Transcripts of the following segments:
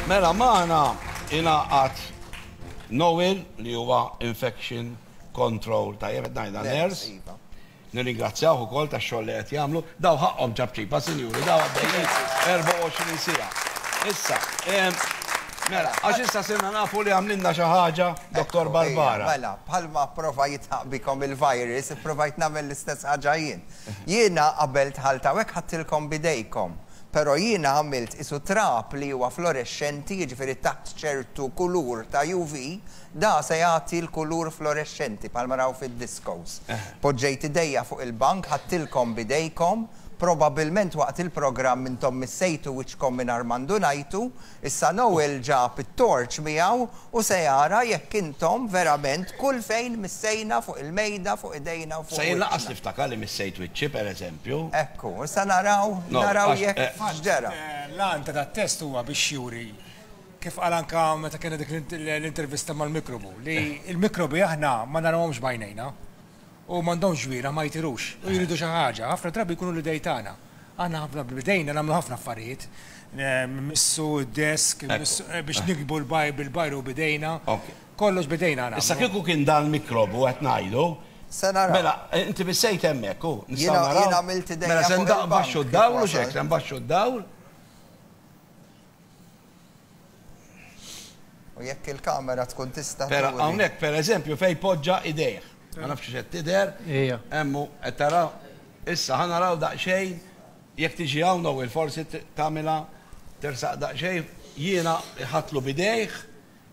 Mela magħna ingħaqad Noel li huwa infection control tajjeb qed ngħidha nurse. Iva. Nirringrazzjawh ukoll tax-xogħol li qed jagħmlu. Daw ħaqqhom ċabċipa, sinjuri, daw għaddejjin 24 sija. Issa, Mela, għax issa sinna nafu li għamlinna xi ħaġa, Dr. Barbara. Mela, bħalma prova jitħaq bikom il-virus, provajt nagħmel l-istess ħaġa jien. Jiena qabel tħalta hekk ħadtilkom bidejkom. Però jiena għamilt qisu trab li huwa florexxenti, jiġifieri taħt ċertu kulur ta' UV, da se jagħti l-kulur florexxenti bħalma raw fid-discos. Poġġejt idejja fuq il-bank, ħadtilkom b'idejkom, probabbilment waqt il-programm intom missejtu wiċċkom mingħajr ma ndunajtu, Issa Noel ġab it-torċ miegħu u se jara jekk intom verament kull fejn missejna fuq il-mejda, fuq idejna u fuq wiċċna. Se jinqas niftakar li missejt wiċċi, per eżempju. Ekku, issa naraw, naraw jekk x'ġara. Fil-fatt, l-għan ta' dat-test huwa biex juri, kif qal anke meta kellna dik l-intervista mal-mikrobu, li l-mikrobi aħna ma narawhomx b'għajnejna. u m'għandhomx ġwieran ma jtirux u jridu xi ħaġa, ħafna drabi jkunu l-idej tagħna. Aħna ħafna b'idejna nagħmlu ħafna affarijiet, nmissu d-desk, biex niktbu l-bajru b'idejna, kollox b'idejna nagħmlu. Issa kieku kien dan l-mikrob u qed ngħidu, mela inti bissejt hemmhekk hu, nistgħu naraw, mela se nbaxxu d-dawl u x'hekk, se nbaxxu d-dawl, U jekk il-kamera tkun tista' Pera, hawnhekk per eżempju fejn poġġa idejh. Ma nafx xed tidher. Ija. Emmu qed tara issa ħa naraw daqsxejn jekk tiġi hawn u forsi tagħmilha tersaq daqsxejn jiena ħatlu bidejh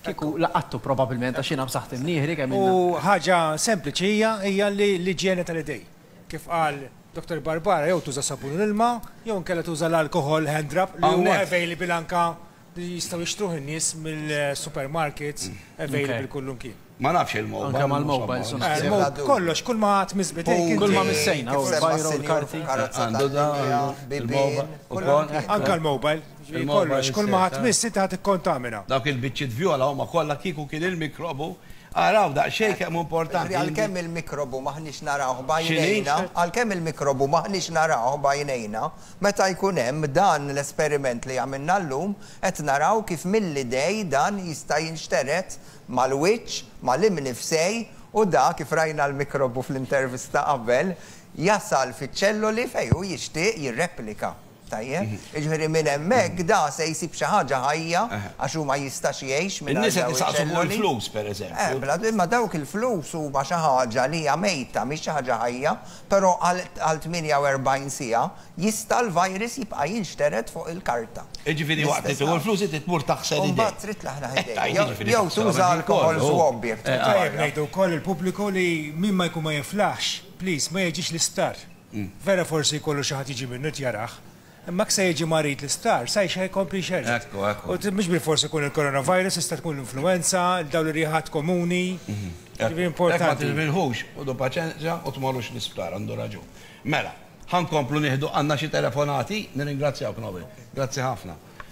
Kieku laqattu probabilment għax jiena b'saħħti mnieħri kemm ilna. U ħaġa sempliċi hija hija l-iġjene tal-idejn. Kif qal Dottor Barbara jew tuża sabun u l-ilma jew inkella tuża l-alkoħol hand drop li huwa available anke li jistgħu jixtruh in-nies mill-supermarkets available kullum kien. Ma nafx il-mobile. Anke mal-mobile sun. Kollox, kull ma għat mizbitej. Kull ma missejna, u l-bajru, l-karti. Għandu da, il-mobile. Anke l-mobile. Jiġifieri kollox, kull ma ħa tmiss inti ħa tikkontamina. Dawk il-biċċiet vjola huma kollha kieku kien il-mikrobu, araw daqsxejn kemm hu importanti. Għalkemm il-mikrobu m'aħniex narawh b'għajnejna, għalkemm il-mikrobu m'aħniex narawh b'għajnejna, meta jkun hemm dan l-esperiment li għamilna llum, qed naraw kif mill-idej dan jista' jinxtered mal-wiċċ, mal-imnifsej u dak, kif rajna l-mikrobu fl-intervista qabel, jasal fiċ-ċelloli fejn hu jixtieq jirreplika. Tajjeb? Jiġifieri minn hemmhekk da se jsib xi ħaġa ħajja għax hu ma jistax jgħix mingħajr dawn iċ-ċelloli. In-nies qed isaqsu fuq il-flus, pereżempju. Eh, bla imma dawk il-flus huma xi ħaġa li hija mejta, mhix xi ħaġa ħajja, però għal għal 48 siegħa jista' l-virus jibqa' jinxtered fuq il-karta. Jiġifieri waqt li tieħu l-flus inti tmur taħsel idejk. U mbagħad trid tlaħlaħ idejk. Jew tuża alkoħol swab jekk trid. Tajjeb ngħidu wkoll lill-pubbliku li min ma jkun ma jiflaħx, please, ma jiġix l-isptar. Vera forsi jkollu xi ħadd jiġi minnu qed jarah, imma jekk se jiġi marid l-isptar, sa jxerred jkompli jxerred. U mhux bilfors ikun il-coronavirus, jista' tkun l-influwenza, dawn ir-riħat komuni. Jiġifieri importanti. Ma tilminħux, ħudu paċenzja u tmorrux l-isptar, għandu raġun. Mela, ħa nkomplu nieħdu, għandna xi telefonati? Nirringrazzjawk, Noel. Grazzi ħafna.